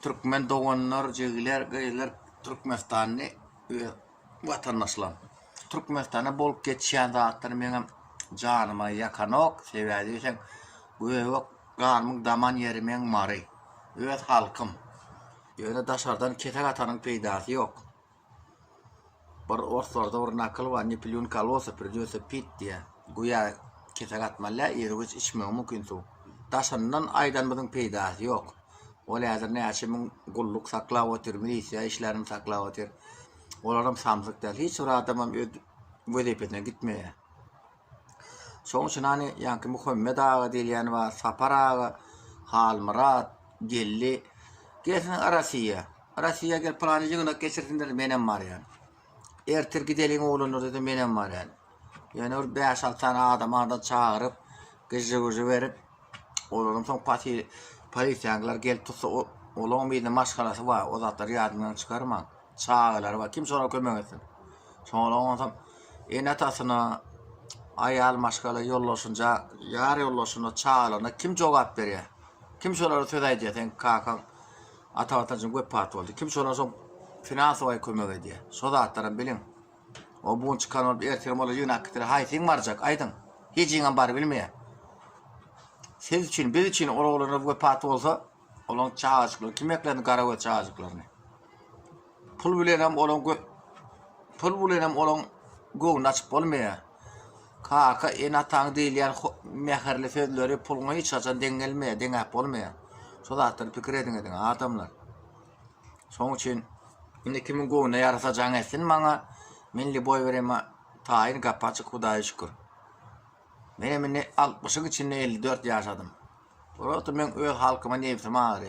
Türkmen doganlar, jigiler, gyzlar Türkmenistanly öz watandaşlarym. Türkmenistanda bolup geçýän zatlar meňem janyma ýakanok, sebäbi diýseň göbek ganymyň daman ýeri meň Mary, öz halkym. Ýöne daşardan kesek atanyň peýdasy ýok. Bir orslarda bir nakyl bar ne piliun kolosa pridyose pit diýä. Guýa kesek atmalä irgiç içmegi mümkin suw. Daşyndan aýdanymyzyň peýdasy ýok. Ol häzir näçe müň gulluk saklap otyr, milisiýa işlärini saklap otyr. Olaram samsyk däl. Hiç bir adamam öz wezipesine gitmeýä. Şoň üçin hany ýaňky Muhammet aga diýilýän bar, Sapar aga, Halmyrat, Geldi. Gelsin Rossiýa. Rossiýa gel pylany ýygnak geçirsinler, menem barýan. Ertir gideliň oglanlar diýse menem barýan. Ýöne bir 5-6 sany adam adam çagyryp, gyjy-wyjy berip, olaryň soň pasil polisiýalar gelip tutsa, olaryň biýdini maşgalasy bar, o zatlar ýadyňdan çykarmaň. çagalary bar. Kim şolara kömek etsin? Şoňa onsoň ene-atasyna, aýal maşgala ýoldaşynja, ýar ýoldaşyna, çagalaryna kim jogap berýär? Kim şolara söz aýdýar? Sen kakaň ata watançyň wepat boldy. Kim şolara şo finansowaý kömek edýär? Şo zatlaram biliň. O bu gün çykan bolup, ertir olar ýygnap gitdiler. Haýsyň barjak? Aýdyň. Hijiňem bar bilmeýär. Siz üçin, biz üçin ol oglanlar wepat bolsa, Olaň çagajyklary kim eklendi garagöz çagajyklaryny. Pul bilenem olaň pul bilenem olaň göwni açyp bolmaýa. Kaka en ataň diýilýän mähirli sözleri pulňa hiç haçan deň gelmeýä, deňäp bolmaýa. Şo zatlar pikir ediň ediň adamlar. Şoň üçin indi kimiň göwni ýarasa jaň etsin maňa. Men liboý berema taýyn gapaçyk hudaýa şükür. Menem indi altmyşyň içinde elli dört ýaşadym. Ol wagtam meň öz halkyma nebsim agyrýar.